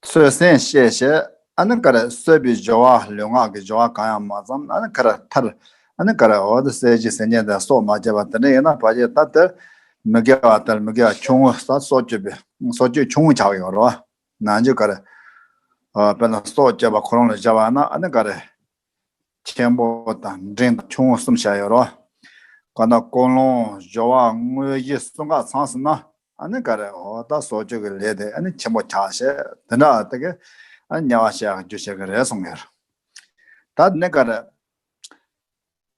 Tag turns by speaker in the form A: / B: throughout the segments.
A: ཚོས་གསན་བཤད་བྱས། ཨ་ནི་ཀ་ར་གསོད་པའི་སྦྱོར་བ་ལུས་ངག་གི་སྦྱོར་བ་གང་ཡང་མ་བརྩམས་ཨ་ནི་ཀ་ར་ཐར། ཨ་ནི་ཀ་ར་འོད་གསལ་གྱི་སེམས་ཅན་དང་སྲོག་མ་བཅད་པ་དེ་འདྲ་ཡིན་ན་བར་ཆད་ལྟར་དེར་མི་དགེ་བ་ལྟར་མི་དགེ་བ་ཆུང་ངུ་ས་སྲོག་གཅོད་པའི་སྲོག་གཅོད་ཆུང་ངུ་ཆགས་ཡོད་རོ། ནང་རྒྱུད་ཀ་ར། དཔེར་ན་སྲོག་གཅོད་པ་ཁོ་རང་ལ་བཞག་པ་ན་ཨ་ནི་ཀ་ར། ཆེན་པོ་དང་འབྲིང་དང་ཆུང་ངུ་གསུམ་བྱ་ཡོད་རོ། གང་དག་ཀོ་ལོང་སྦྱོར་བ་དངོས་གཞི་གསུམ་ག་ཚང་ཟིན་ན་ནི་ག་རེ་འོ་ད་སྲོག་གཅོད་ཀྱི་ལས་དེ་ནི་ཆེན་པོ་བྱ་ཞེས་དེ་འདྲ་དེ་ཀའི་ཉེ་བར་བཤད་རྒྱུ་བྱེད་ཀྱི་རེད་གསུངས་ཡོད། ད་ནི་ག་རེ།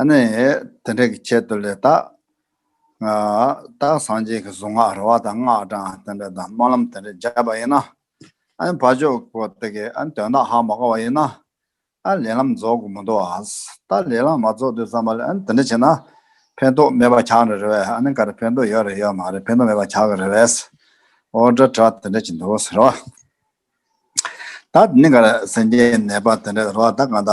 A: ཨ་ནི་དེ་འདྲ་གི་ཆེད་དུ་ལས་དག། རྟགས་སངས་རྒྱས་ཀྱི་གཟུངས་སྔགས་ར་བ་དང་སྔགས་གྲངས་དེ་འདྲ་དང་སྨོན་ལམ་དེ་འདྲ་བརྒྱབ་པ་ཡིན་ན། ཨ་ནི་བ་ཅོ་ཀོ་ཏི་གི་ཨ་ནི་དོན་དག་ཧ་མ་གོ་བ་ཡིན་ན། ཨ་ནི་ལས་ལམ་རྫོགས་དགོས་མི་འདུག་ཨ། ད་ལས་ལམ་མ་རྫོགས་དུས་ཙམ་པ་ལ་ཨ་ནི་དེ་འདྲ་བྱས་ན། ཕན་ཐོགས་མེད་པ་ཆགས་ནི་རེད་བས་ཨ་ནི་འགའ་རེ་ཕན་ཐོགས་ཡོད་རེད་ཡོད་མ་རེད་ཕན་ཐོགས་མེད་པ་ཆགས་ཀྱི་རེད་བས། ཨོ་དྲ་དྲ་དེ་འདྲ་བྱེད་འདུག་ཟེར་བ། ད་དེ་ནི་འགའ་རེ་སེམས་ཅན་ནད་པ་དེ་འདྲ་ར་བ་དང་གང་ལྟ།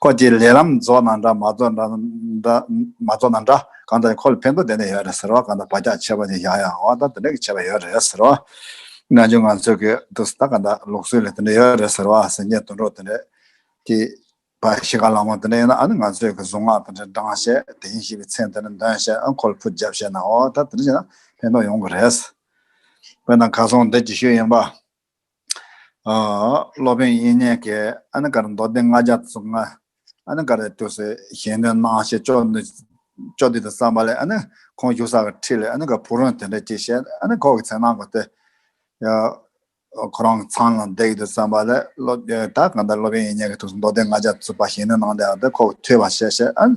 A: ཁོ་ཀྱིས་ལས་ལམ་རྫོགས་ན་འདྲ་མ་རྫོགས་ན་འདྲ་གང་ལྟར་ཁོ་ལ་ཕན་ཐོགས་དེ་འདྲ་ཡོད་རེད་ཟེར་བ་གང་ལྟར་བག་ཆགས་ཆེ་བ་ནི་ཡང་ཡང་འོང་སྟངས་དེ་འདྲ་གི་བྱས་པ་ཡོད་རེད་ཟེར་བ། ནང་ཆོས་ང་ཚོས་གི་འདུག་ཟེར་ན་གང་ལྟར་ལུགས་སྲོལ་ལས་དེ་འདྲ་ཡོད་རེད་ཟེར་བ་ཟེར་ཉེས་དོན་གྲོགས་དེ་འདྲ་གི་བ་ཞིག་ག་ལ་འོང་དེ་འདྲ་ཡིན་ན་ཨ་ནི་ང་ཚོས་གི་གཟུངས་སྔགས་དེ་འདྲ་འབྲང་བཤད་དེ་ཡིན་ཞེས་པའི་མཚན་དེ་འདྲ་འདོན་བཤད་ཨ་ཁོ་ལ་ཕུ་བརྒྱབ་བཤད་ན་འོ་ད་དེ་འདྲ་བྱས་ན་ཕན་ཐོགས་ཡོང་གི་རེད། བོད་ནང་གར་སོང་བདེ་སྐྱིད་ཤོས་ཡིན་པ། སློབ་དཔོན་དབྱིག་གཉེན་གྱིས་ཨ་ནི་ཀ་ར་མདོ་སྡེ་ལྔ་རྒྱ་མཚོ་ལྔ། ཨ་ནི་ཀ་རའི་དུས་སུ་གཞན་དོན་སྣང་ཞེས་ཅོག་འདི་ཅོག་འདི་དང་བསམ་པ་ལས་ཨ་ནི་ཁོང་བཞུགས་ས་ག་ཁྲི་ལས་ཨ་ནི་ཀ་བུ་རོན་དེ་འདྲ་ཅིག་བཤད་ཨ་ནི་ཁོག་གི་ཚེ་སྣང་གོ་སྟེ། ཁོ་རང་གི་ཚང་ལ་འདེགས་ཏེ་བསམ་པ་ལས་ད་གང་ལྟར་སློབ་དཔོན་དབྱིག་གཉེན་གྱི་དུས་སུ་མདོ་སྡེ་ལྔ་རྒྱ་མཚོའི་བར་གཞན་དོན་སྣང་སྟེ་ཨ་ནི་ཀ་བུ་ཐོས་པར་བཤད་བཤད་ཨ་ནི།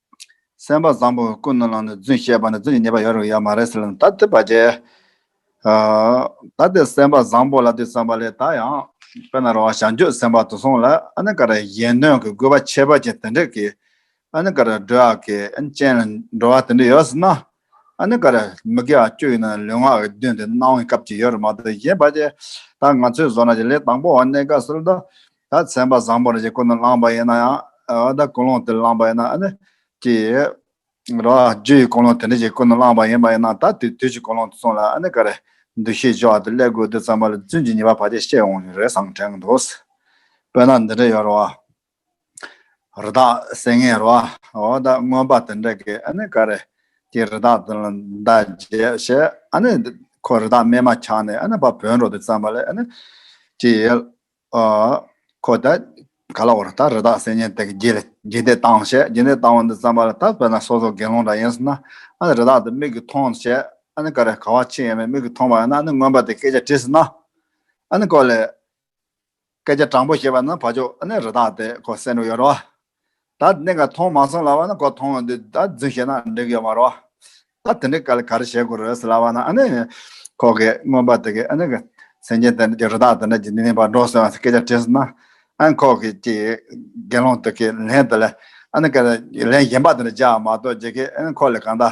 A: སེམས་པ་བཟང་པོ་ཀུན་ནོར་ལགས་ནས་རྫུན་བཤད་པ་ནི་རྫུན་གྱི་ཉེས་པ་ཡོད་རུང་ཡོད་མ་རེད་ཟེར་ལ་ད་དེ་བ་ཅི། ད་དེ་སེམས་པ་བཟང་པོ་ལ་དེ་བསམ་པ་ལས་ད་ཡང་དཔེ་ན་རོ་བ་ཞང་ཆོས་སེམས་པ་དུ་སོང་ལ་ཨ་ནི་ཀ་ར་གཞན་དོན་གི་དགོས་པ་ཆེ་བ་ཅན་དེ་འདྲས་ཀྱི་ཨ་ནི་ཀ་ར་སྒྲོལ་བ་ཀྱི་ཨ་ནི་ཅན་ལ་འགྲོ་བ་དེ་འདྲས་ཡོད་ཟེར་ན་ཨ་ནི་ག་རེ་མི་དགེ་བ་སྤྱོད་ཡོད་ན་ལུས་ངག་གི་མདུན་དུ་གནང་བའི་སྐབས་ཅིག་ཡོད་རེད་མ་གཏོགས་གཞན་པ་ཅི་ད་ང་ཚོའི་བཟོ་ན་ཅིག་ལས་དང་པོ་བ་གནད་འགག་སོལ་ད་ད་ཚན་པ་བཟང་པོ་རེ་ཅིག་ཀུན་ནས་བླངས་པ་ཡིན་ན་ཡང་བ་ད་ཀུན་སློང་དེ་བླངས་པ་ཡིན་ན་ཨ་ནི་ཅི་རེད་རོ་རྗེ་ཡི་ཀུན་སློང་དེ་འདྲ་ཅིག་ཀུན་ནས་བླངས་པ་ཡིན་པ་ཡིན་ན་ད་དུས་དུས་ཀྱི་ཀུན་སློང་དུ་སོང་ལ་ཨ་ནི་ག་རེ་འདུ་ཤེས་འཆོལ་བ་དེ་སླད་དགོས་དུས་ཙམ་པ་ལ་བཙུན་གྱི་ཉེས་པ་བ་ཅིག་བཤད་འོང་ཞིག་རེ་བཟང་དྲན་གི་འདུག་སྤོས་ན་འདི་འདྲ་ཡོད་རེད་བ། རི་དྭགས་བསད་ངན་རོ། འོ་ད་མངོན་པ་དེ་འདྲ་གི་ཨ་ནི་ག་རེ། ཀྱེ་རི་དྭགས་དེ་ལ་མདའ་རྒྱས་ཞེས་ཨ་ནི། ཁོ་རི་དྭགས་རྨས་མ་འཁྱགས་ནས་ཨ་ནི་བ་བོན་རོ་དེ་བརྩམས་པ་ལས་ཨ་ནི། ཀྱེ། ཁོ་ད་ག་ལ་བོར་ད་རི་དྭགས་བསད་ངན་དེ་གི་རྒྱས་རྒྱས་འདེད་བཏང་ཞེས་རྒྱས་འདེད་བཏང་བ་འདི་བརྩམས་པ་ལ་ད་བོད་ན་སོ་སོ་དགེ་སློང་འདྲ་ཡིན་སྲིད་ན་ཨ་ནི་རི་དྭགས་དེ་མིག་གིས་མཐོང་ཞེས་ཨ་ནི་ག་རེ་ག་བ་ཆེ་ཡང་མིག་གིས་མཐོང་བ་ཡང་ན་ཨ་ནི་མངོན་པ་དེ་སྐད་ཆ་དྲིས་སྲིད་ན་ཨ་ནི་ཀོ་ལེ། སྐད་ཆ་དྲང་པོ་བཤད་པ་ན་ཕ་ཆོག་ཨ་ནི་རི་དྭགས་དེ་ཁོ་སེམས་ནོར་ཡོད་རོ། ད་གནད་འགའ་མཐོང་མ་སོང་ལ་བ་ན་ཁོ་མཐོང་འདུག་ད་རྫུན་བཤད་ན་འགྲིག་ཡོད་མ་རོ། ད་དེ་འདྲི་ག་ལ་ག་རེ་བྱེད་དགོས་རེད་ཟེར་ལ་བ་ན་ཨ་ནི་ཁོ་གི་རྔོན་པ་དེ་གི་ཨ་ནི་གི་སེང་ཆེན་དེ་འདྲ་གི་རི་དྭགས་དེ་འདྲ་གི་ནི་ནི་བ་འགྲོ་སོང་སྐད་ཆ་དྲིས་ན་ཨ་ནི་ཁོ་གི་ཀྱི་དགེ་སློང་དེ་གི་ལན་དེ་ལ་ཨ་ནི་ག་ལ་ལན་གཞན་པ་དེ་འདྲ་བྱ་མ་གཏོགས་ཀྱི་གི་ཨ་ནི་ཁོ་ལ་གང་ད།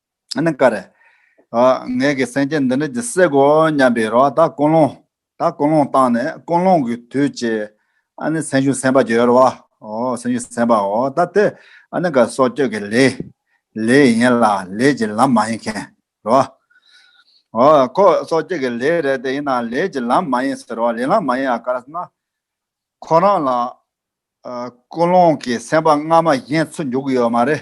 A: ཨཱ་ཀཱ་ར། ངེད་ཀྱི་སེམས་ཅན་འདི་འདྲ་ཇི་སྲིད་གོ་སྙམ་པའི་རོ་ད་ཀུན་སློང། ད་ཀུན་སློང་བཏང་ནས་ཀུན་སློང་གི་དུས་བྱས། ཨཱ་ནི་སེམས་ཤུགས་སེམས་པ་འགྱོད་རོ། སེམས་ཤུགས་སེམས་པའོ་ད་དེ། ཨཱ་ནི་གཱ་སྲོག་གཅོད་ཀྱི་ལས། ལས་ཡིན་ལ་ལས་ཀྱི་ལམ་མ་ཡིན་མཁན་རོ། ཁོ་སྲོག་གཅོད་ཀྱི་ལས་རེད་དེ་ཡིན་ན་ལས་ཀྱི་ལམ་མ་ཡིན་ཟེར་རོ་ལས་ལམ་མ་ཡིན་ཨཱ་ཀཱ་ར་ཟེར་ན། ཁོ་རང་ལ་ཀུན་སློང་གི་སེམས་པ་སྔ་མ་བཞིན་ཚུར་འཇུག་གི་ཡོད་མ་རེད།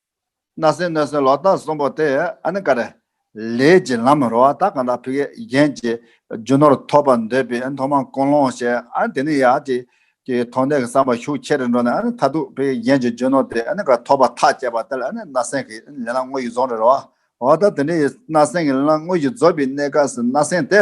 A: སྣ་སེན་སྣོད་སེན་ལོག་ལྟ་གསུམ་པོ་དེ་ཨ་ནི་ཀ་ར། ལས་ཀྱི་ལམ་རོ་ཨ་ད་ག་ད་བྷི་ཀའི་རྒྱན་གྱི་རྒྱུ་ནོར་ཐོབ་པར་འདོད་པའི་མཐོང་མ་ཀུན་སློང་ཞེས་ཨ་ནི་དེ་ནི་ཡ་ཏི་ཀའི་མཐོང་ལྡན་གྱི་བསམ་པ་ཤུགས་ཆེ་རེ་འགྲོ་ནས་ཨ་ནི་ད་དུག་བྷི་ཀའི་རྒྱན་གྱི་རྒྱུ་ནོར་དེ་ཨ་ནི་ཀ་ར་ཐོབ་པར་ཐག་བཅད་པ་དེ་ལ་ཨ་ནི་སྣ་སེན་གྱི་ལས་ལམ་དངོས་ཀྱི་རྫོགས་རེ་རོ་ཨ་ད་དེ་ནི་སྣ་སེན་གྱི་ལམ་དངོས་ཀྱི་རྫོགས་པའི་གནས་སྐབས་སུ་སྣ་སེན་དེ།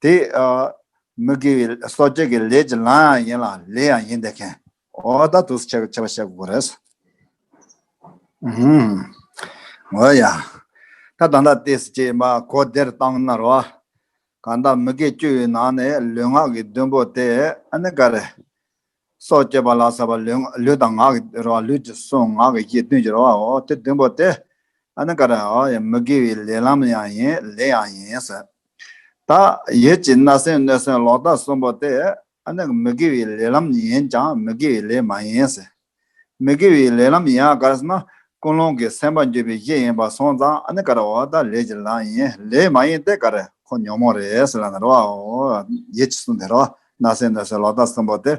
A: དེ་མི་དགེ་བའི་སོ་སྐྱེ་གི་ལས་ཀྱི་ལམ་ཡང་ཡིན་ལ་ལས་ཡང་ཡིན་དེ་ཁན་ཨོ་ད་དུ་ཆེ་བ་བཤད་དགོས་རེད། ཨོ་ཡ། ད་ད་འདྲ་དེ་སྐྱེས་པ་གོ་བདེར་བཏང་ན་རོ། གང་ལྟར་མི་དགེ་བཅུའི་ནང་ནས་ལུས་ངག་གི་བདུན་པོ་དེ་ཨ་ནི་ག་རེ། སོགས་བསྐྱེད་པ་ལ་སོགས་པ་ལུས་དང་ངག་གི་རོ་བ་ལུས་ཀྱི་གཟུངས་ངག་གི་ཡིད་བདུན་གྱི་རོ་བའོ། དེ་བདུན་པོ་སྟེ། ཨཱ་ནི་ཀ་ར། མི་དགེ་བའི་ལས་ལམ་ཡང་ཡིན་ལས་ཡང་ཡིན། ད་ཡོད་ཀྱི་སྣ་སེན་སྣོད་སེན་ལོག་ལྟ་གསུམ་པོ་སྟེ། ཨཱ་ནི་མི་དགེ་བའི་ལས་ལམ་ཡིན་ཀྱང་མི་དགེ་བའི་ལས་མ་ཡིན། མི་དགེ་བའི་ལས་ལམ་ཡིན་ཨ་ཀ་ར་ན། ཀུན་སློང་གི་སེམས་པ་འགྱོད་པའི་གཞི་ཡིན་པ་སོང་ཙང་ཨཱ་ནི་ཀ་ར་འོ་ད་ལས་ཀྱི་ལམ་ཡིན་ལས་མ་ཡིན་ཏེ་ཀ་ར་ཁོ་ཉོན་མོངས་རེས་ལ་ན་རོ་བའོ། ཡོད་ཀྱི་གསུངས་ཏེ་རོ་བ་ན་སེ་ན་སེ་ལོག་ལྟ་གསུམ་པོ་དེ།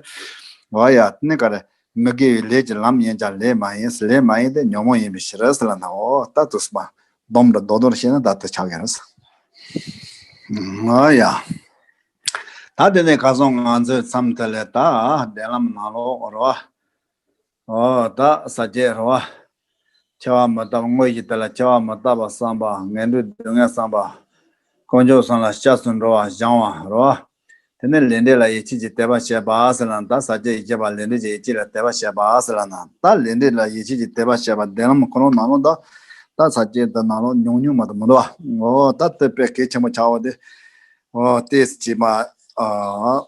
A: འོ་ཡ། ནི་ག་རེ། མི་དགེ་བའི་ལས་ཀྱི་ལམ་ཡིན་ཀྱང་ལས་མ་ཡིན། ལས་མ་ཡིན་ཏེ་ཉོན་མོངས་ཡིན་པའི་ཕྱིར་རོ་ལ་ནའོ། ལྟ་དུ་གསུམ་པ། སྡོམ་དང་ལྡོག་དོར་ཤེས་ན་བདག་ཏུ་ཆགས་ཀྱི་རེད། འོ་ཡ། ད་དེ་ནས་ག་སོང་ང་ཚོའི་མཚམས་དེ་ལས་ད་བདེན་ལམ་ནང་ལོག་རོ། འོ་དག་ཟ་བྱེད་རོ། ཆེ་བ་མི་རྟག་དངོས་ཀྱི་དེ་ལ་ཆེ་བ་མི་རྟག་པ་བསམ་པ་ངན་འགྲོའི་སྡུག་བསྔལ་བསམ་པ། དཀོན་མཆོག་གསུམ་ལ་སྐྱབས་སུ་འགྲོ་བ་བཞང་བ་རོ། དེ་ནས་ལས་འབྲས་ལ་ཡིད་ཆེས་ཀྱི་དད་པ་བྱེད་པ་སེ་ལ་ན་དག་ཟ་བྱེད་ཡིད་ཆེས་པ་ལས་འབྲས་ཀྱི་ཡིད་ཆེས་ལ་དད་པ་བྱེད་པ་སེ་ལ་ན་དག་ལས་འབྲས་ལ་ཡིད་ཆེས་ཀྱི་དད་པ་བྱེད་པ་བདེན་ལམ་ཁོ་ནོར་ནང་ལོག་དག་དག་ཟ་བྱེད་དག་ནང་ལོག་ཉུང་ཉུང་མ་དང་མི་འདོ་བ་འོ་དག་བསྟོད་པའི་གེགས་ཆེན་པོ་བྱའོ་སྟེ། འོ་སྟེ་ཅེས་པའོ།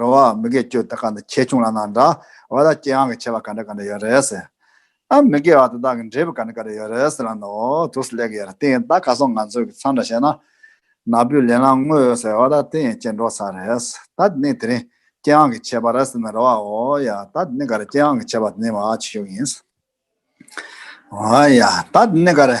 A: རོ་བ། མི་དགེ་སྐྱོན་དེ་ག་འདྲ་ཆེ་ཆུང་ལ་ན་འདྲ། བ་དག་སྐྱེ་འག་གི་ཆེ་བ་ག་འདྲ་ག་འདྲ་ཡོད་རེད། ཨ་མི་དགེ་བ་དེ་དག་གི་འབྲས་བུ་ག་འདྲ་ག་འདྲ་ཡོད་རེད་ལ་ནོ་དུ་སུ་ལེགས་ཡོད་དེ་ད་ག་སོང་ང་ཚོས་གི་ཚང་འདྲ་བྱས་ན། ན་བུས་ལེན་ལ་ངོ་ཡོད་ཟེར་བ་ད་དེ་ཡིན་སྐྱེ་འགྲོ་ས་རེད། ད་དེ་ནི་དེ་རིང་སྐྱེ་འག་གི་ཆེ་བ་རེད་ཟེར་ན་རོ་བ་འོ་ཡ་ད་དེ་ནི་ག་རེ་སྐྱེ་འག་གི་ཆེ་བ་དེ་ནི་བ་ཆེ་ཤོས་ཡིན། འོ་ཡ་ད་དེ་ནི་ག་རེ།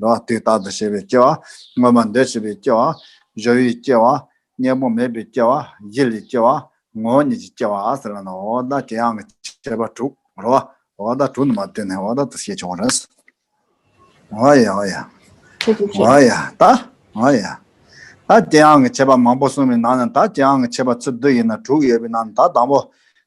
A: རོ། དུས་རྟག་ཏུ་ཤེས་པའི་སྐྱེ་བ། སྔོན་མ་འདོད་བྱེད་པའི་སྐྱེ་བ། གཞོ་ཡི་སྐྱེ་བ། གཉེན་པོ་མེད་པའི་སྐྱེ་བ། ཡིད་ལས་སྐྱེ་བ། ངོ་བོ་ཉིད་ཀྱི་སྐྱེ་བ། ཟེར་བ་ན་འོག་ལྟ་དྲི་ཡང་གི་བྱེད་པ་དྲུག་རོ། འོག་ལྟ་དྲུག་ནི་མ་བཏོན་ནས་འོག་ལྟ་དུ་ཤེས་བྱུང་བ་རེད། འོག་ཡ། འོག་ཡ། འོག་ཡ། ད། འོག་ཡ། ད་དེའང་གི་བྱེད་པ་མང་པོ་གསུངས་པའི་ནང་ན་ད་དེའང་གི་བྱེད་པ་ཚུལ་བདུན་ཡིན་ན་དྲུག་ཡོད་པའི་ནང་ན་ད་དང་པོ།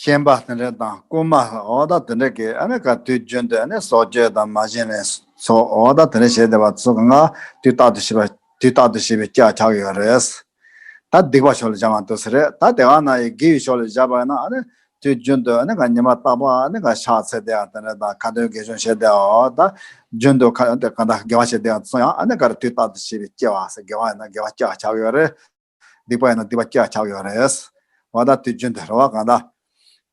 A: ཤན་པ་དེ་འདྲ་དང་རྐུན་མ་ལ་འོ་ད་དེ་འདྲ་གི་ཨ་ནི་ག་དུས་རྒྱུན་དུ་ཨ་ནི་སྲོག་གཅོད་དང་མ་བྱིན་ལེན་སོགས་འོ་ད་དེ་འདྲ་བྱེད་བསྡད་པ་ཚོ་གི་ང་དུས་རྟག་ཏུ་ཤི་བ་དུས་རྟག་ཏུ་ཤི་བའི་སྐྱག་ཆགས་ཡོད་རེད། ད་སྡིག་པ་ཕྱོགས་ལ་བྱ་མ་འདུག་ཟེར་རེད་ད་དེ་ག་ན་ཡི་གེ་ཡི་ཕྱོགས་ལ་བཞག་པ་ཡིན་ན་ཨ་ནི་དུས་རྒྱུན་དུ་ཨ་ནི་ག་ཉི་མ་རྟག་པར་ཨ་ནི་ག་ཕྱག་འཚལ་བསྡད་ཡ་དེ་འདྲ་དང་ཁ་འདོན་དགེ་སྦྱོང་བྱེད་བསྡད་ཡ་འོ་ད་རྒྱུན་དུ་ག་ད་དགེ་བ་བྱེད་བསྡད་ཡ་ཚོ་ཡང་ཨ་ནི་ག་དུས་རྟག་ཏུ་ཤི་བའི་སྐྱེ་བ་ཟེར་དགེ་བ་ཡིན་ན་དགེ་བ་སྐྱག་ཆགས་ཡོད་རེད། སྡིག་པ་ཡིན་ན་སྡིག་པ་སྐྱག་ཁྱག་ཡོད་རེད། འོ་ད་དུས་རྒྱུན་དུ་རེ་བ་གང་འདྲ།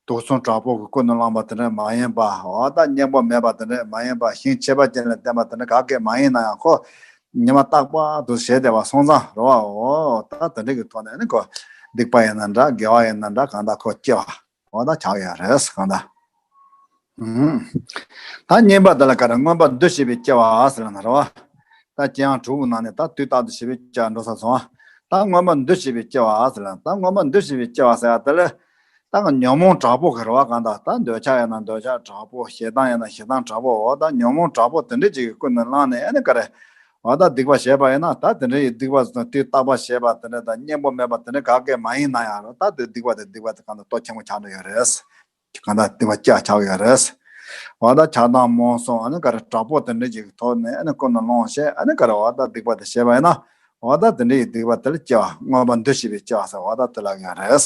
A: དུག་མཚོན་དྲག་པོ་གི་སྐུ་ནས་བླངས་པ་དེ་འདྲ་མ་ཡིན་པ། འོ་ད་སྙིང་པོ་མེད་པ་དེ་འདྲ་མ་ཡིན་པ་ཞིང་ཆེ་བ་ཅན་ལ་བསྟན་པ་དེ་འདྲ་ག་གེ་མ་ཡིན་ན་ཡང་ཁོ། ཉི་མ་རྟག་པར་དུ་ཞེ་བདེ་བ་སོང་ཙང་རེ་བའོ། འོ་ད་དེ་འདྲ་གི་ཐོག་ནས་ནི་ཁོ། སྡིག་པ་ཡིན་ན་འདྲ་དགེ་བ་ཡིན་ན་འདྲ་གང་འདྲ་ཁོ་སྐྱེ་བ། གང་དག་བྱ་བའི་རེས་གང་དག། ད་བསྙེན་པར་དེ་ལ་ཀ་ར་མངོན་པར་འདུ་ཤེས་པས་སྐྱེ་བ་ཟེར་བ་ན་རེ་བ། ད་སྐྱེ་ཡང་དྲུག་པོ་ན་ནས་ད་དུས་རྟག་ཏུ་ཞི་བའི་སྐྱེ་བ་འགྲོ་ས་སོང་བ། ད་མངོན་པར་འདུ་ཤེས་པས་སྐྱེ་བ་ཟེར་ལ་ད་མངོན་པར་འདུ་ཤེས་པས་སྐྱེ་བ་ཟེར་བ་དེ་ལ། ད་ཉོན་མོངས་དྲག་པོ་གི་རེ་བ་གང་དག་ད་འདོད་ཆགས་ཡང་ན་འདོད་ཆགས་དྲག་པོ་ཞེ་སྡང་ཡང་ན་ཞེ་སྡང་དྲག་པོའོ་ད་ཉོན་མོངས་དྲག་པོ་དེ་འདྲ་ཅིག་གི་ཀུན་ནས་བསླངས་ནས་ཨེ་ནས་ཀ་ར་ང་བདག་སྡིག་པ་བྱས་པ་ཡིན་ན་ད་དེ་འདྲའི་སྡིག་པ་དེ་ལྟ་བ་བྱས་པ་དེ་འདྲ་དང་གཉེན་པོ་མེད་པ་དེ་འདྲ་ག་གེ་མ་ཡིན་ན་ཡང་རུང་ད་དེ་སྡིག་པ་དེ་སྡིག་པ་དེ་གང་དུ་ལྟོ་ཆེན་པོ་ཆགས་འདུག་ཡོད་རེད། གང་དུ་སྡིག་པ་སྐྱག་ཆགས་ཡོད་རེད། བ་ད་ཆགས་སྡང་རྨོངས་སོང་ཨ་ནི་ག་རེ་དྲག་པོ་དེ་འདྲའི་ཞིག་ཐོག་ནས་ཨ་ནི་ཀུན་ནས་སློང་ཤེས་ཨ་ནི་ག་རེ་བ་ད་སྡིག་པ་དེ་བྱས་པ་ཡིན་ན་བ་ད་དེ་འདྲའི་སྡིག་པ་དེ་ལ་སྐྱེ་བ་དངོས་པོ་འདུ་ཤེས་པའི་སྐྱག་ཟེར་བ་ད་དེ་ལ་ཡོད་རེད།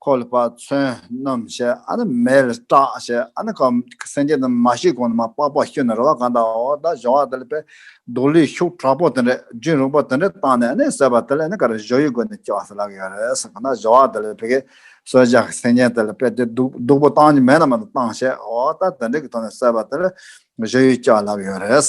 A: ཁོ་ལ་དཔག་ཚོན་རྣམས་ཞེས་ཨ་ན་མེ་ལ་སྐྲག་ཞེས་ཨ་ན་ཀམ་སེང་གེ་རྣམས་མ་ཤི་གོང་ན་མ་སྤགས་པར་ཤི་ན་རེ་བ་གང་དག་འོ་ད་བཞོ་བ་དེ་ལ་པའི་དུག་ལས་ཤུགས་དྲག་པོ་དེ་འདྲས་རྒྱུན་རིང་པོ་དེ་འདྲས་བཏང་ནས་ནི་ཟོས་པ་དེ་ལས་ནི་ག་རེ་བཞོ་ཡི་སྒོ་ནས་སྐྱེ་བ་སུ་ལ་གི་ཡོད་རེད་ཟེར་གོ་ན་བཞོ་བ་དེ་ལས་བི་གའི་སོལ་ཇག་གི་སེང་གེ་དེ་ལ་པའི་དེ་དུག་དུག་པོ་བཏང་ནི་མེ་ལ་མ་ལ་བཏང་ཞེས་འོ་ད་དེ་འདྲས་ཀྱི་ཐོག་ནས་ཟོས་པ་དེ་ལས་བཞོ་ཡི་སྐྱེ་བ་ལ་གི་ཡོད་རེད།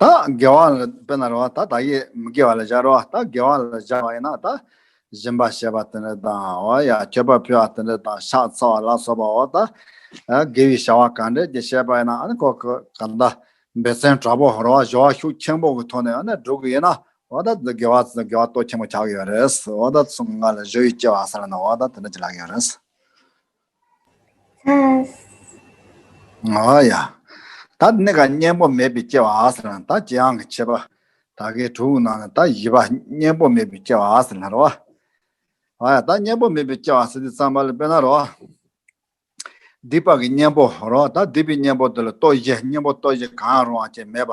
A: ད་དགེ་བ་ལ་དཔེར་ན་རེ་བ་ད་ད་ཡིག་མི་དགེ་བ་ལ་སྦྱར་རོ། ད་དགེ་བ་ལ་སྦྱར་བ་ཡིན་ན་ད་གཞན་པ་ཞེས་པ་དེ་འདྲ་དང། ཁྱད་པར་ཕུལ་བ་དེ་འདྲ་དང་ཕྱག་འཚལ་བ་ལ་སོགས་པའོ། ད་དགེ་བའི་བྱ་བ་གང་འདྲའི་ཞེས་པ་ཡིན་ན་ཁོ་ག་ད་སྦས་ཚན་དྲག་པོ་རོ་བ་ཞོ་བ་ཤུགས་ཆེན་པོ་གི་ཐོག་ནས་སྒྲུབ་གི་ཡིན་ན་འོ་ད་དགེ་བ་ལྟོ་ཆེན་པོ་བྱ་གི་ཡོད་རེད། འོ་ད་གསུམ་ཀ་ལ་བཞི་ཡིས་སྐྱེ་བ་ཟེར་ན་འོ་ད་དེ་འདྲ་བྱེད་ལག་གི་ཡོད་རེད།
B: ཨཱ་ཡ།
A: ད་ནི་ག་གཉེན་པོ་མེད་པའི་སྐྱེ་བ་ཨཱས་ལྷར་ན་ད་ཇི་ཨང་གི་ཆད་པ་ད་གའི་དྲུག་སྣང་ན་ད་བཞི་པ་གཉེན་པོ་མེད་པའི་སྐྱེ་བ་ཨཱས་ལྷར་བ། ཨཱ་ཡ་ད་གཉེན་པོ་མེད་པའི་སྐྱེ་བ་ཨཱས་འདི་ཙམ་པ་ལ་དཔེར་ན་རོ། སྡིག་པ་གི་གཉེན་པོ་རོ་ད་སྡིག་པའི་གཉེན་པོ་འདི་ལ་ལྟོ་བཞི་གཉེན་པོ་ལྟོ་བཞི་གང་ཡང་རུང་བ་ཅན་མེད་པ།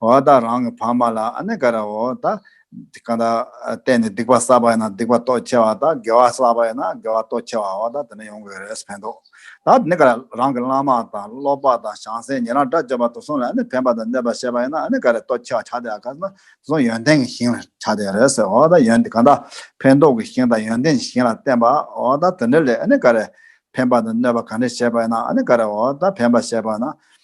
A: འོ་ད་རང་གི་བག་མ་ལ་ཨནེ་ཀ་ར་འོ་ད་གང་ད་བལྟས་ནས་སྡིག་པ་བསགས་པ་ཡིན་ན་སྡིག་པ་ལྟོ་འཕྱེ་བ་ད་དགེ་བ་བསགས་པ་ཡིན་ན་དགེ་བ་ལྟོ་འཕྱེ་བའོ་ད་དེ་འདྲ་ཡོང་དགོས་རེད་ཕན་ཐོག་ད་ཨནེ་ཀ་ར་རང་གི་བླ་མ་དང་སློབ་པ་དང་བྱང་སེམས་ཉན་རང་སྒྲ་བརྗོད་པ་དུག་གསུམ་ལ་ཨནེ་ཕན་པ་དང་གནོད་པ་ཤེས་པ་ཡིན་ན་ཨནེ་ཀ་ར་ལྟོ་འཕྱེ་བ་ཆགས་སྡེ་ཨ་ཀ་ན་དུག་གསུམ་ཡོན་ཏན་གྱི་ཞིང་ལ་ཆགས་སྡེ་རེད་ཟེར་འོ་ད་ཡོན་གང་ད་ཕན་འདོགས་ཀྱི་ཞིང་དང་ཡོན་ཏན་གྱི་ཞིང་ལ་བརྟེན་པའོ་ད་དེ་འདྲ་ལས་ཨནེ་ཀ་ར་ཕན་པ་དང་གནོད་པ་གང་འདྲ་ཤེས་པ་ཡིན་ན་ཨནེ་ཀ་ར་འོ་ད་ཕན་པ་ཤེས་པ་ན་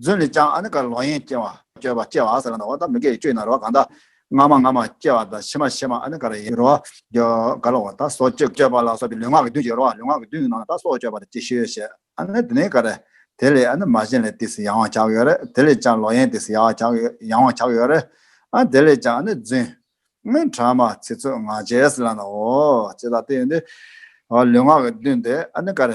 A: རྫུན་ལས་ཀྱང་ཨ་ནི་ཀར་ལོག་ཡན་སྐྱེ་བ། སྐྱོ་བ་སྐྱེ་བ་ཟེར་བ་ན་འོ་ན་མི་དགེ་བའི་སྐྱོན་ཡིན་ན་རོ་གང་དག། སྔ་མ་སྔ་མ་སྐྱེ་བ་དང་ཕྱི་མ་ཕྱི་མ་ཨ་ནི་ཀར་ཡིན་རོ། སྐྱོ་གར་ལོག་པ་དང་སྲོག་གཅོད་སྐྱོ་བ་ལ་སོགས་པའི་ལུས་ངག་གི་བདུན་གྱིས་རོ། ལུས་ངག་གི་བདུན་གྱི་ནང་ན་དག་སྲོག་གཅོད་པ་དང་ཅིག་ཤོས་བྱེད་ཨ་ནི་དེ་ནས་ཀར། དེ་ལས་ཨ་ནི་མ་གཞན་ལས་དེས་ཡང་བ་བྱ་གི་ཡོད་རེད་དེ་ལས་ཀྱང་ལོག་ཡན་དེས་ཡང་བ་བྱ་ཡང་བ་བྱ་གི་ཡོད་རེད། ཨ་དེ་ལས་ཀྱང་ཨ་ནི་རྫུན། སྔོན་གྲངས་མ་ཚིག་ཚོད་ངག་བྱས་ཟེར་ལ་ན་འོ། ཅི་ལ་དེ་ཡོད་ནི། ལུས་ངག་གི་བདུན་དེ་ཨ་ནི་ཀར།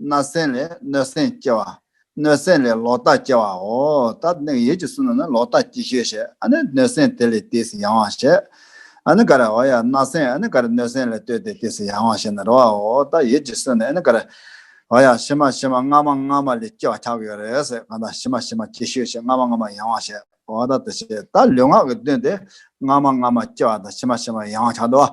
A: སྣ་སེན་ལས་སྣོད་སེན་སྐྱེ་བ། སྣོད་སེན་ལས་ལོག་ལྟ་སྐྱེ་བའོ། ད་ནིང་ཡིད་ཀྱི་སུན་ན་ལོག་ལྟ་སྐྱེ་ཞོས་བཤད། ཨ་ནི་སྣོད་སེན་དེ་ལས་དེས་ཡང་བ་བཤད། ཨ་ནི་ཀར་ཨོ་ཡ་སྣ་སེན་ཨ་ནི་ཀར་སྣོད་སེན་ལས་ལྟོས་ཏེ་དེས་ཡང་བ་བཤད་ན་རོ་བའོ། ད་ཡིད་ཀྱི་སུན་ན་ཨ་ནི་ཀར་ཨོ་ཡ་ཕྱི་མ་ཕྱི་མ་སྔ་མ་སྔ་མ་ལས་སྐྱེ་བ་ཁྱབ་ཡོད་རེད་ཟེར་གང་ལྟར་ཕྱི་མ་ཕྱི་མ་སྐྱེ་ཞོས་བཤད་སྔ་མ་སྔ་མ་ཡང་བ་བཤད། འོ་ད་དེ་བཤད་ད་ལུས་ངག་གི་དོན་དེ་སྔ་མ་སྔ་མ་སྐྱེ་བ་དང་ཕྱི་མ་ཕྱི་མ་ཡང་བ་ཁྱབ་འགྲོ་བ་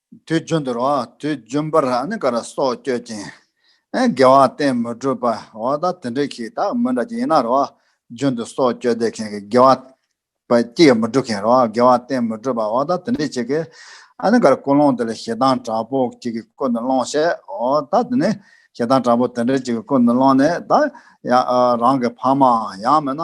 A: དུས་རྒྱུན་དུ་རོ། དུས་རྒྱུན་པར་ཨ་ནི་ཀ་ར་སོགས་བསྐྱོད་ཅིང། དགེ་བ་གཏན་མི་སྒྲུབ་པ་འོ་ད་དེ་འདྲའི་ཁྱི་དག་མི་འདྲ་ཅིག་ཡིན་ན་རོ། རྒྱུན་དུ་སོགས་བསྐྱོད་བསྡད་མཁན་གྱི་དགེ་བ། པ་ཅི་ཡང་མི་སྒྲུབ་མཁན་རོ། དགེ་བ་གཏན་མི་སྒྲུབ་པ་འོ་ད་དེ་འདྲའི་ཆེ་གེ། ཨ་ནི་ཀ་ར་ཀུན་སློང་དེ་ལ་ཞེ་སྡང་དྲག་པོ་ཅིག་གིས་ཀུན་དུ་སློང་ཞེ་འོ་ད་དེ་ནི། ཞེ་སྡང་དྲག་པོ་དེ་འདྲ་ཅིག་གིས་ཀུན་དུ་སློང་ནས་ད། ཡང་རང་གི་ཕ་མའང་ཡང་མེད་ན།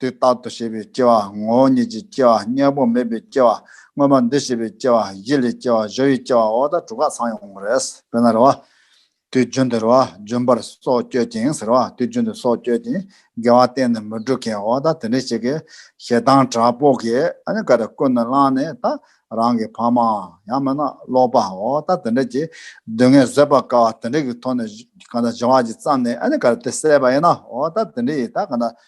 A: དུས་རྟག་ཏུ་ཞེས་པའི་སྐྱེ་བ་ངོ་བོ་ཉིད་ཀྱིས་སྐྱེ་བ་གཉེན་པོ་མེད་པའི་སྐྱེ་བ་དངོས་མ་འདི་ཞེས་པའི་སྐྱེ་བ་བཞི་ལས་སྐྱེ་བ་བཞི་ཡི་སྐྱེ་བའོ་ད་དྲུག་ག་ཚང་ཡོང་རེད་དཔེར་ན་རེ་བ། དུས་རྒྱུན་དུ་རེ་བ་རྒྱུན་པར་སྲོག་བསྐྱོད་ཅིང་ཟེར་བ་དུས་རྒྱུན་དུ་སྲོག་བསྐྱོད་ཅིང་དགེ་བ་གཏན་ནས་མི་སྒྲུབ་མཁན་འོ་ད་དེ་འདྲའི་ཞིག་གིས་ཞེ་སྡང་དྲག་པོ་གིས་ཨ་ནི་ཀ་རེ་ཀུན་ནས་བསླངས་ནས་ད་རང་གི་ཕ་མ་ཡང་མེད་ན་ཀློག་པ་འོ་ད་དེ་འདྲ་གྱི་སྡུག་བསྔལ་བཟོད་པར་དཀའ་བ་དེ་འདྲ་གི་ཐོག་ནས་གང་ལྟར་བྱ་བ་གཅིག་བརྩམས་ནས་ཨ་ནི་ཀ་རེ་དེ་བསད་པ་ཡིན་ན་འོ་ད་དེ་འདྲ་ཡིས་ད་གང་ལྟར་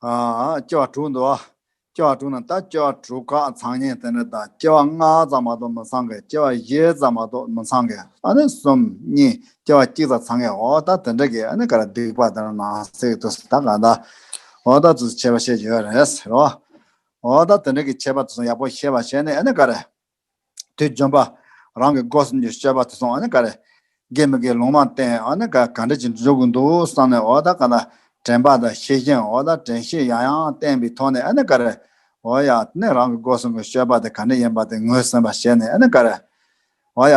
A: སྐྱེ་བ་དྲུག་འདུ་བ། སྐྱེ་བ་དྲུག་ནང་ལྟར་སྐྱེ་བ་དྲུག་ཁ་ཚང་ཉིད་དེ་འདྲ་དང་སྐྱེ་བ་ལྔ་ཙམ་མ་གཏོགས་མི་ཚང་གི་སྐྱེ་བ་བཞི་ཙམ་མ་གཏོགས་མི་ཚང་གི་ཨ་ནི་གསུམ་གཉིས་སྐྱེ་བ་གཅིག་ཙམ་ཚང་གི་འོ་ད་དེ་འདྲ་གི་ཨ་ནི་ག་རེ་སྡིག་པ་དེ་འདྲ་ནང་བསྲེགས་དུ་ད་ག་ད་འོ་ད་དུ་བྱས་པ་བྱས་ཡོད་རེད་ཟེར་རོ། འོ་ད་དེ་འདྲ་གི་བྱས་པ་དུ་ཡག་པོ་ཤེས་པ་བྱས་ནས་ཨ་ནི་ག་རེ། དུས་འཇོམས་པ། རང་གི་སྒོ་གསུམ་གྱི་སྤྱོད་པ་དེ་སོང་ག་རེ། དགེ་མི་དགེའི་ལུང་མ་བསྟན་ག་འདྲ་ཅིག་འཇུག་གི་འདུག་བསམ་ནས་འོ་ད་ག་ད་དྲན་པ་དང་ཤེས་བཞིན་འོ་ད་དྲན་ཤེས་ཡང་ཡང་བསྟན་པའི་ཐོག་ནས་ག་རེ། འོ་ཡ། རང་གི་སྒོ་གསུམ་གྱི་སྤྱོད་པ་དེ་ག་འདྲ་ཡིན་པ་དེ་ངོས་ཟིན་པ་བྱས་ནས་ག་རེ། འོ་ཡ།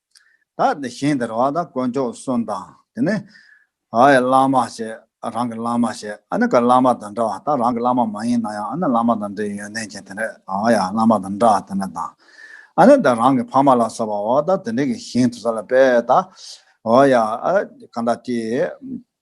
A: ད་དེ་བཞིན་དུ་ར་བ་ད་དཀོན་མཆོག་གསུམ་དང་དེ་ནས་ཨའི་བླ་མ་ཞེས་རང་གི་བླ་མ་ཞེས་ཨ་ནི་ག་བླ་མ་དང་འདྲ་བ་ད་རང་གི་བླ་མ་མ་ཡིན་ན་ཡང་ཨ་ནི་བླ་མ་དང་འདྲའི་ཡོན་ཏན་ཅན་དེ་འདྲའི་ཨ་ཡ་བླ་མ་དང་འདྲ་བ་དེ་འདྲ་དང། ཨ་ནི་ད་རང་གི་ཕ་མ་ལ་སོགས་པའོ་ད་དེ་འདྲའི་གི་བཞིན་དུ་ས་ལ་པའི་ད་ཨོ་ཡ་ཨ་ག་ད་ཏི།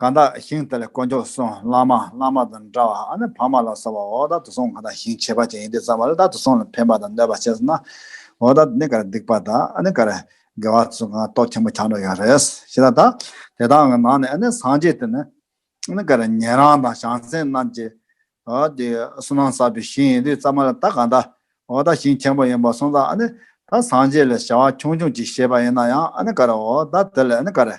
A: གང་དག་ཞིང་དེ་ལ་དཀོན་མཆོག་སོང་བླ་མ་བླ་མ་དང་འདྲ་བ་ཨ་ནི་བག་མ་ལ་སོགས་པ་འོག་དག་ཏུ་སོང་གང་དག་ཞིང་བྱེད་པ་ཅན་ཡིན་དེ་ཙམ་བ་ལ་དག་ཏུ་སོང་ལ་ཕན་པ་དང་གནོད་པ་བྱས་སོ་ན། འོག་དག་ཏུ་ནི་ག་རེ་སྡིག་པ་དག་ཨ་ནི་ག་རེ་དགེ་བ་ཚུལ་གང་རྟོག་ཆེན་པོ་ཆགས་འགྲོ་ཡང་རེས་ཤི་ད་དག་དེ་དག་གི་ནང་ནས་ཨ་ནི་སངས་རྒྱས་དེ་ནི་ཨ་ནི་ག་རེ་ཉན་རང་དང་བྱང་སེམས་རྣམས་ཀྱི་དེ་སུ་ན་བསགས་པའི་ཞིང་ཡིན་དེ་ཙམ་བ་ལ་དག་གང་དག་འོག་དག་ཞིང་ཆེན་པོ་ཡིན་པར་སོང་ཙང་ཨ་ནི་ད་སངས་རྒྱས་ལས་བྱ་བ་ཆུང་ཆུང་ཅིག་བྱེད་པ་ཡིན་ན་ཡང་ཨ་ནི་ག་རེ་འོག་དག་དེ་ལས་ཨ་ནི་ག་རེ།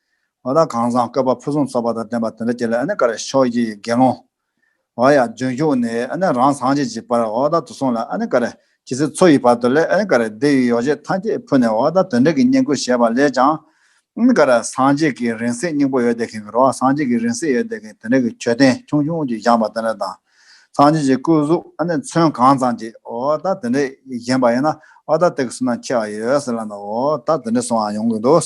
A: ཨོ་ད་གང་བཟང་བཀོད་པ་ཕུན་སུམ་ཚོགས་པ་དང་ལྡན་པ་དེ་འདྲ་ཁྱེད་ལ་ཨ་ནི་ཀ་ར་ཤོག་ཀྱི་དགེ་སློང། ཨོ་ཡ་ལྗོན་ཤུག་ནི་ཨ་ནི་རང་སངས་རྒྱས་ཀྱི་བར་ཨོ་ད་དུ་སོང་ལ་ཨ་ནི་ཀ་ར་ཇི་སྲིད་འཚོ་ཡི་བར་དུ་ལས་ཨ་ནི་ཀ་ར་འདི་ཡི་ཡོ་བྱད་ཐམས་ཅད་ཕུལ་ནས་ཨོ་ད་དོན་འབྲས་ཀྱི་བསྙེན་བཀུར་བྱས་པ་ལས་ཀྱང། ཨ་ནི་ཀ་ར་སངས་རྒྱས་ཀྱི་རིང་བསྲེལ་སྙིང་པོ་ཡོད་དེ་ཁེང་གི་རོ་སངས་རྒྱས་ཀྱི་རིང་བསྲེལ་ཡོད་དེ་ཁེང་དེ་འདྲ་གི་མཆོད་རྟེན་ཆུང་ཆུང་གཅིག་བཞེངས་པ་དེ་འདྲ་དང། སངས་རྒྱས་ཀྱི་སྐུ་གཟུགས་ཨ་ནི་མཚོན་གང་ཙམ་གཅིག་ཨོ་ད་དེ་འདྲ་བཞེངས་པ་ཡིན་ན་ཨོ་ད་དེ་གི་སུན་ན་ཁྱེར་བ་ཡོད་ཟེར་ལ་ནི་ཨོ་ད་དེ་འདྲ་སོང་ཡོང་གི་འདུག།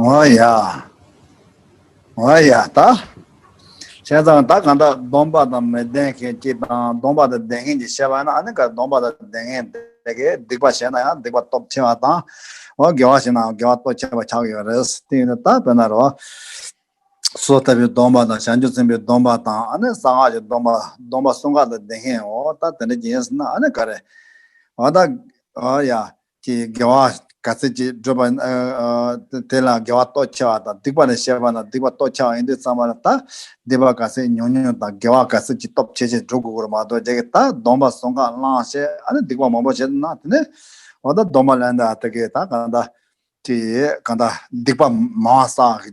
A: ངོ་ཡ། ངོ་ཡ་ད། བྱས་ཙང་ད་གང་དག་སྡོམ་པ་དང་མི་ལྡན་མཁན་གྱི་དང་སྡོམ་པ་དང་ལྡན་མཁན་གྱི་བཤད་པ་ན་ཨ་ནི་ག་སྡོམ་པ་དང་ལྡན་མཁན་དེ་གས་སྡིག་པ་བྱས་ན་ཡང་སྡིག་པ་སྟོབས་ཆེ་བ་དང། འོ་དགེ་བ་བྱས་ནའང་དགེ་བ་སྟོབས་ཆེ་བ་ཆགས་ཡོད་རེད། དེ་ཡིན་ན་ད་བོད་ན་རོ། སོ་ལྟ་བུའི་སྡོམ་པ་དང་བྱང་ཆུབ་སེམས་དཔའི་སྡོམ་པ་དང་ཨ་ནི་གསང་སྔགས་ཀྱི་སྡོམ་པ་སྡོམ་པ་གསུམ་ག་དང་ལྡན་མཁན་འོ་ད་དེ་འདྲ་གྱིས་ཡིན་ཟེར་ན་ཨ་ནི་ག་རེད། འོ་ད། འོ་ཡ། ཀྱི་དགེ་བ་ག་ཚད་ཅིག་བསྒྲུབ་པ། དེ་ལ་དགེ་བ་སྟོབས་ཆེ་བ་དང་སྡིག་པ་ལས་བཤད་པ་ན་སྡིག་པ་སྟོབས་ཆེ་བ་ཡིན་དུས་ཙམ་པ་ལ་དང། སྡིག་པ་ག་ཚད་ཉུང་ཉུང་དང་དགེ་བ་ག་ཚད་ཅིག་སྟོབས་ཆེ་ཆེ་བསྒྲུབ་དགོས་སྐོར་མ་གཏོགས་རྒྱ་གིས་ད་སྡོམ་པ་སོང་ཁ་བླངས་ཞེས་ཨ་ནི་སྡིག་པ་མང་པོ་བྱེད་ན་དེ་ནི། འོ་ད་སྡོམ་པ་ལེན་ད་ད་གིས་ད་གང་ད། ཀྱིས་གང་ད་སྡིག་པ་མང་བ་བསགས།